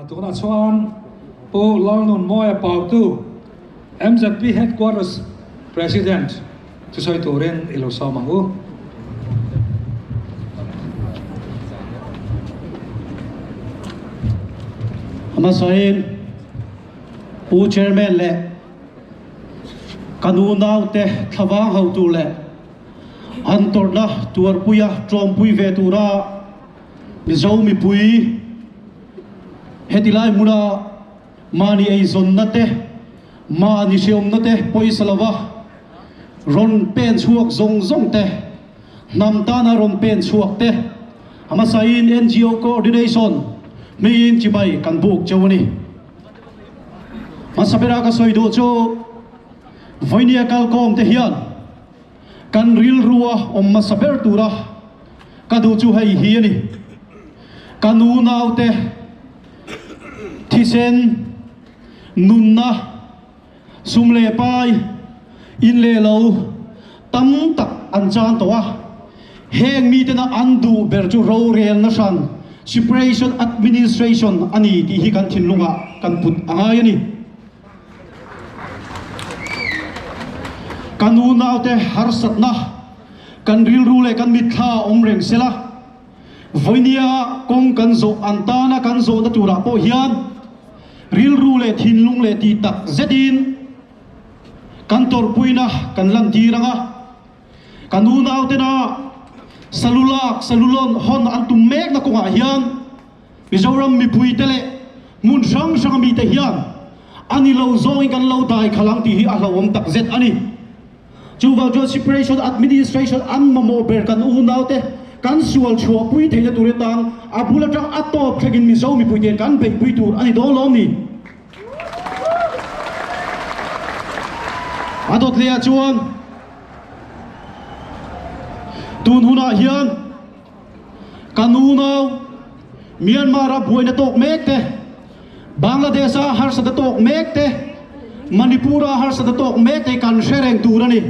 Tunah chuan Pu Lalnunmawia pautu mzp Headquarters President chu sawi turin i lo sawm ang u. Hmasain Pu Chairman leh ka nu naute thlavang hotu leh an tawrhna tuarpuia ṭawmpui ve tura, Mizo mipui hetilai hmuna mahni eizawnna te, mahni hreawmna te pawisa lova rawn pen chhuak zawng zawng te, hnam tana rawn pen chhuak te hmasaiin NGO coordination hmiin chibai kan buk cheu a ni. Hmasa bera ka sawi duh chu Vawinia kalkawmte hian, kan rilrua awm hmasa ber tura ka duh chu hei hi a ni, Ka nu naute thisen, nunna, sum leh pai, in leh lo tam tak an chang tawh a. Heng mitena an duh ber chu rorelna hran, separation administration, a ni tih hi kan thinlungah kan put a ngai a ni. Kan nu naute harsatna, kan rilru leh kan mitthlaa a awm reng sela, vawinia kawng kan zawh ang tana kan zawhna turah pawh hian rilru leh thinlung leh tihtak zetin kan tawrhpuina kan lantir ang a. Kan unautena salu lak, salu lawn hawn an tum mekna kawngah hian Mizoram mipuite leh hmun hrang hranga mite hian a ni lo zawngin kan lo dai khalh ang tih hi a hlauhawm takzet a ni. Chuvang chuan separation administration an mamawh ber kan unaute kan sual chhuah pui theihna tur atang a bul atang a tawp thlengin Mizo mipuite'n kan beihpui tur a ni dawnlawm ni. A dawtleah chuan tun hunah hian kan unau Myanmar-a buaina tawk mek te, Bangladesh-a harsata tawk mek te, Manipur-a harsata tawk mek te kan hre reng tur a ni.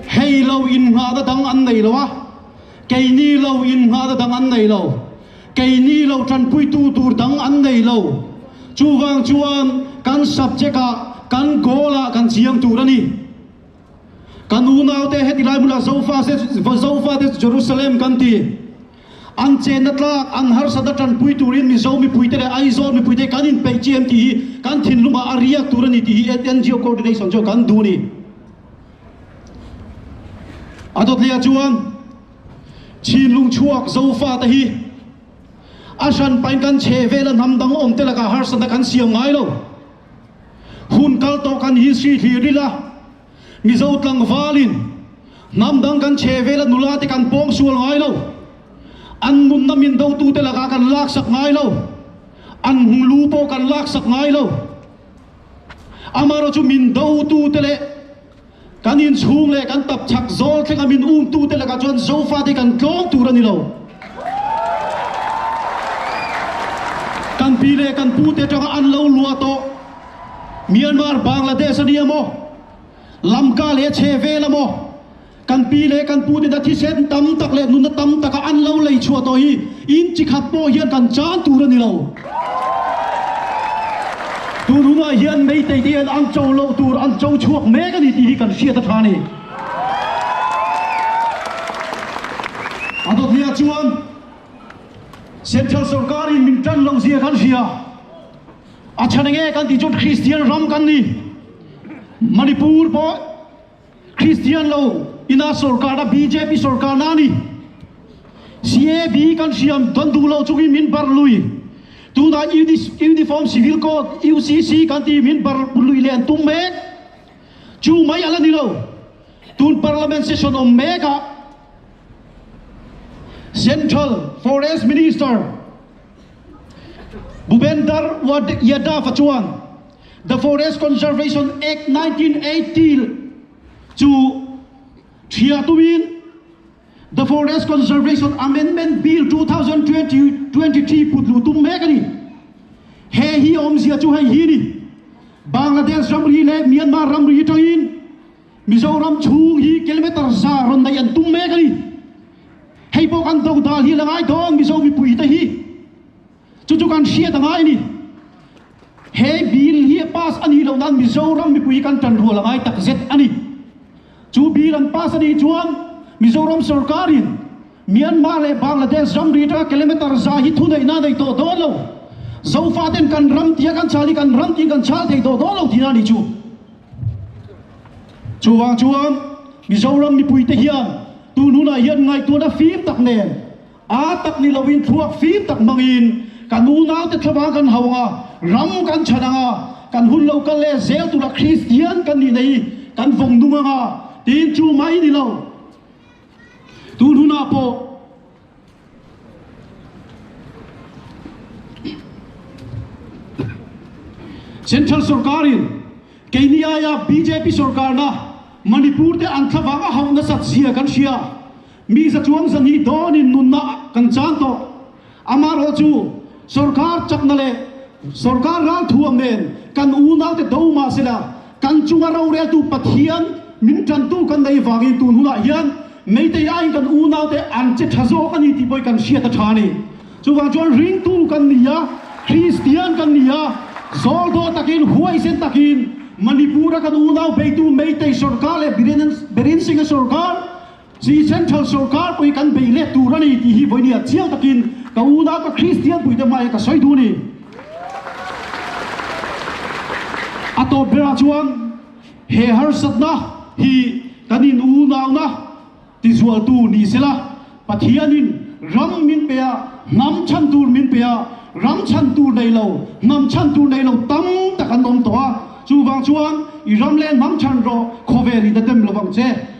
Hei lo innghahna dang an nei lo a. Kei ni lo in nghahna dang an nei lo. Kei ni lo tanpuitu tur dang an nei lo. Chuvang chuan kan subject ah kan goal ah kan chiang tur a ni. Ka nu naute hetilai hmunah Zofa te chu Jerusalem kan ti. An chenna tlak, an harsatna tanpui tur in Mizo mipuite leh Aizawl mipuite kan inpeih chi em tih hi kan thinlung ah a riak tur a ni tih hi NGO coordination chu kan duh a ni. A dawtliah chuan Chinlung chhuak Zofa te hi a hran pain kan chhe vel a hnam dang awm te lakah harsatna kan siam ngai lo. Hun kal tawh kan hi si hlir ila Mizo tlangvalin hnam dang kan chhe vel a nula te kan pawng sual ngai lo. An nunna min do tu te lakah kan laksak ngai lo. An hmu lu pawh kan laksak ngai lo. Amaherawh chu min dotute leh kan inchhung leh kan tapchhak zawl thlenga min umtute lakah chuan Zofa te kan tlawm tur a ni lo. Kan pi leh kan pute atanga an lo lua tawh. Myanmar, Bangladesh a nia maw, lamka leh chhe vel a maw, Kan pi leh kan pu tena thisen tam tak leh nunna tam taka an lo lei chhuah tawh hi in chi khat pawh hian kan chang tur a ni lo. Tun hunah hian Meitei te hian an cho loh tur an cho chhuak mek a ni tih hi kan hriat a tha a ni. A dawtliah chuan Central sawrkar in min tan loh zia kan hria. A chhan enge kan tih chuan Kristian ram kan ni. Manipur pawh. Kristian lo ina sorkar a bjp sorkar na ani. CAB kan hriam don duh lo chungin min bar lui. Tunah Uniform Civil Code, UCC, kan tih min bar lui leh an tum mek. Chu mai a la ni lo. Tun Parliament session awm mek ah Central Forest Minister Bhupender Yadav-a chuan, The Forest Conservation Act nineteen eighty chu ṭhiah tumin The Forest Conservation Amendment Bill two thousand twenty twenty three putlu tum mek a ni. He hi a awmzia chu hei hi a ni, Bangladesh ramri leh Myanmar ramri aṭangin Mizoram chhung hi kilometre za rawn neih an tum mek a ni. Hei pawh kan doh dal hi a la ngai dawn Mizo mipuite hi. Chu chu kan hriat a ngai a ni. He Bill hi a pass a nih loh nan Mizoram mipui kan tan rual a ngai tak zet a ni. Chu Bill an pass a nih chuan Mizoram sawrkar in Myanmar leh Bangladesh ram ri atanga kilometre za hi thuneihna a nei tawh dawn lo. Zofa ten kan ram tia kan chal hi kan ram tiin kan chal thei tawh dawn lo tihna a ni chu. Chuvang chuan Mizoram mipui te hian tun hunah hian ngaihtuahna fim tak nen Aa tak ni loin thluak fim tak hmangin kan unaute thla vang kan hau anga ram kan chhan anga kan hun lo kal leh zel tura Kristian kan nih neih hi kan vawng nung anga tiin chu mah i ni lo. Tunhunah pawh Central sorkarin keini aia bjp sorkarna Manipur te an thla vang a hauh nasat zia kan hria Mi za chuang za nih dawnin nunna kan chang tawh. Amaherawh chu sorkar chakna leh sorkar ralthuam nen kan unaute do mah sela kan chunga roreltu Pathian min tantu kan nei vangin tun hunah hian meitei aiin kan unaute an che tha zawk a ni tih pawhin kan hriat a tha a ni. Chuvang chuan ringtu kan ni a, Kristian kan ni a, zawldaw takin huaisen takin Manipura kan unau beitu meitei sorkar leh Biren Birensinga sorkar Chi Central sorkar pawi kan bei let tur a ni tih hi vawiin a chiang takin ka u nau ka Kristian puite hmai ah ka sawi duh ni. A tawp ber ah chuan he harsatna hi kan in unauna tizual tu ni se la Pathian in ram min pe a hnam chhan tur min pe a ram chhan tur nei lo hnam chhan tur nei lo tam tak an awm tawh a chuvang chuan i ram leh hnam chhan rawh khawvel in a dem lovang che.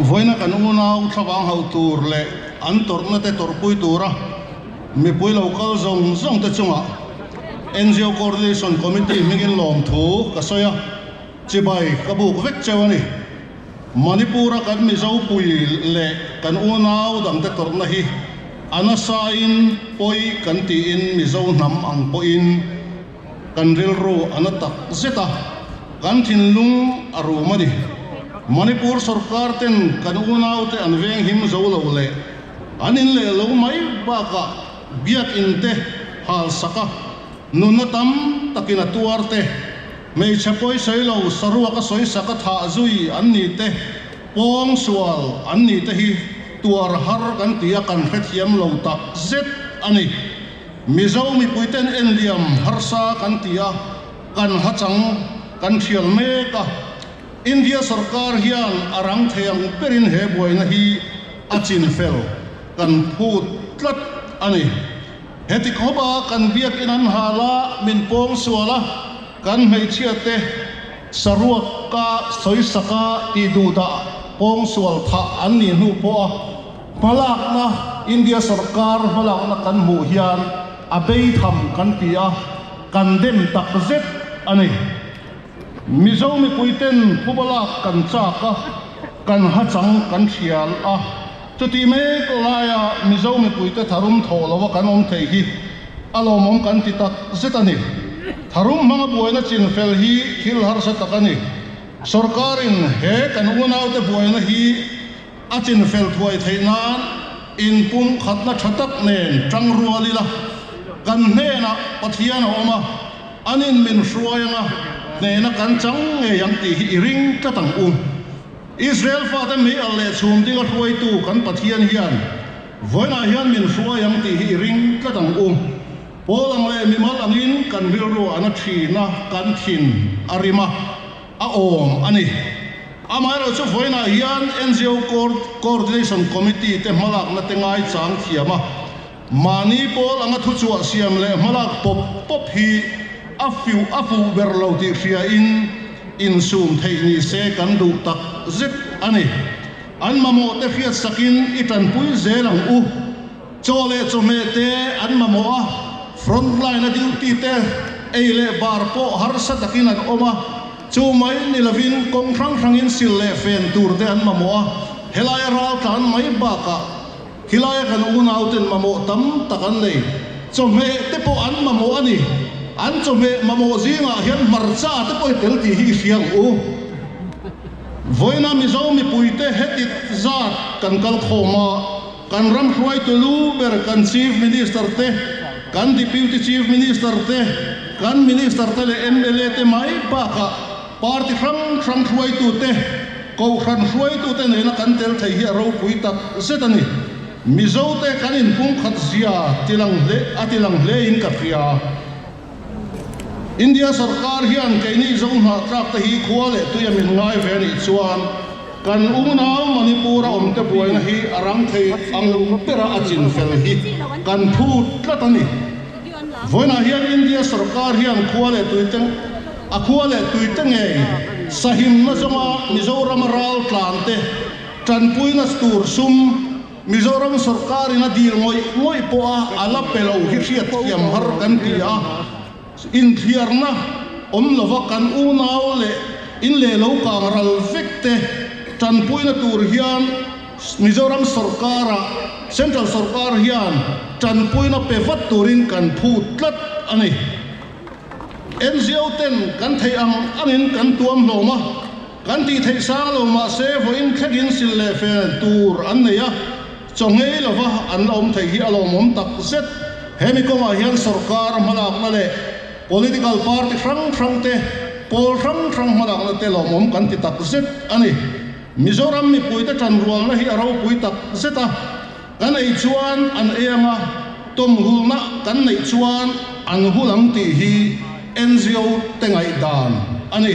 Vawiina kan unau thlavang hauh tur leh an tawrhnate tawrhpui tura mipui lo kal zawng zawngte chungah NGO Coordination Committee hmingin lawmthu ka sawi a, chibai ka buk vek cheu a ni. Manipura kan Mizopui leh kan unau dangte tawrhna hi a nasain pawi kan tiin Mizo hnam ang pawhin, Kan rilru a na tak zet a, kan thinlung a rum a ni. Manipur sorkar ten kan unau te an veng him zo lo leh an in leh lo mai bakah biakin te hal sak a, nunna tam takin a tuar te, hmeichhe pawisawi lo saruak a sawi sak a thah zui an ni te, pawng sual an ni te hi tuar har kan ti a kan hrethiam lo tak zet a ni. Mizo mipuite'n enliam harsa kan ti a, kan hachang kan thial mek a. India sawrkar hian a rang thei ang berin he buaina hi a chin fel kan phut tlat a ni. Heti khawpa kan biakinn an ha la min pawng sual a, kan hmeichhia te saruak ka sawi sak a tih duhdah pawng sual thah an nih hnu pawh a. Hmalakna, India sorkar hmalakna kan hmuh hian a bei tham kan ti a, kan dem tak zet a ni. Mizo mipuiten phubalak kan chak a, kan hachang kan thial a. Chutih mek laia Mizo mipuite tharum thawh lova kan awm thei hi a lawmawm kan ti tak zet a ni. Tharum hmanga buaina chinfel hi thil harsa tak a ni. Sorkarin he kan unaute buaina hi. A chinfel thuai theih nan in pumkhatna tha tak nen tang rual ila kan hnenah Pathian a awm a, an in min hruai anga hnehna kan chang ngei ang tih hi i ring tlat ang u. Israel fate meialh leh chhum ding a hruaitu kan Pathian hian vawiinah hian min hruai ang tih hi i ring tlat ang u. Pawl ang leh mimal angin kan rilru an a thin a, kan thin a rim a. a awm a ni. Amaherawh chu vawiinah hian NGO Coordination Committee te hmalakna te ngaichang thiam a, mahni pawl anga thuchhuah siam leh hmalak pawp pawp hi a fiuh a fuh ber lo tih hriain insum theih ni se kan duh tak zet a ni. An mamawhte hriat sakin i tanpui zel ang u. Chaw leh chawhmeh te an mamawh a, front line-a duty te ei leh bar pawh harsa takin an awm a, chu mai ni lovin kawng hrang hrangin sil leh fen tur te an mamawh a, helai a ral tlan mai bakah khilai kan unauten mamawh tam tak an nei. Chawhmeh te pawh an mamawh a ni, an chawhmeh mamawh zingah hian hmarcha te pawh i tel tih hi i hriang u. Vawiina Mizo mipuite he tit zat kan kal khawm a. Kan ram hruaitu lu ber kan Chief Minister te, kan Deputy Chief Minister te, kan Minister te leh mla te mai bakah party hrang hrang hruaitu te, Kohhran hruaitu te nena kan tel thei hi a ropui tak zet a ni. Mizote kan in pumkhat zia tilang hle a tilang hle in ka hria. India sarkar hian keini zauhmah tlak te hi khua leh tui a min ngai ve a nih chuan kan unau Manipur a awmte buaina hi a rang thei ang bera a chin fel hi kan phut tlat a ni. Vawiinah hian India sarkar hian khua leh tui te a khua leh tui te ngei sahimna zawnga Mizoram a ral tlante tanpuina tur sum, Mizoram sorkarin a dil ngawih ngawih pawha a la pe lo hi hriatthiam har kan ti a, inthiarna awm lova kan unau leh in leh lo kang ral vek te tanpuina tur hian Mizoram sorkara Central sorkar hian tanpuina pe vat turin kan phu tlat a ni. NGO ten kan theih ang angin kan tuam hlawm a. Kan tih theih sang lo mahse vawiin thlekin sil leh fel tur an nei a, chaw ngei lova an la awm thei hi a lawmawm tak zet. Hemi kawngah hian sorkara hmalakna leh political party hrang hrang te, pawl hrang hrang hmalakna te lawmawm kan ti tak zet a ni. Mizoram mipuite tanrualna hi a ropui tak zet a, kan ei chuan an ei ang a, tawmhulna kan neih chuan an hulh ang tih hi NGO te ngaihdan a ni.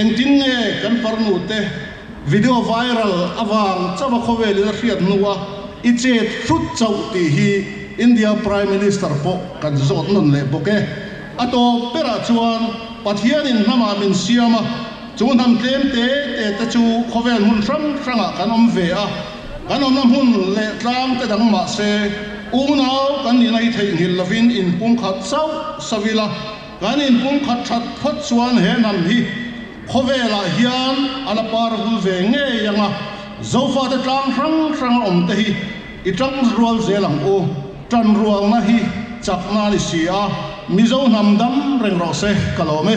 Engtin nge kan parnu te video viral avang chauha khawvelin a hriat hnu a, i chet hrut chauh tih hi India Prime Minister pawh kan zawt nawn leh bawk e. A tawp berah chuan Pathianin hnamah min siam a, chu hnam tlem te te te chu khawvel hmun hrang hrangah kan awm ve a, kan awmna hmun leh tlang te dang mahse unau kan nih na hi theihnghilh lovin inpumkhat chauh savila Kan inpung khat that phawt chuan he hnam hi khawvelah hian a la par vul ve ngei ang a, Zofate tlang hrang hrang a awmte hi i tang rual zel ang u, tan rualna hi chak nan i si a, Mizo hnam dam reng rawh se ka lawm e.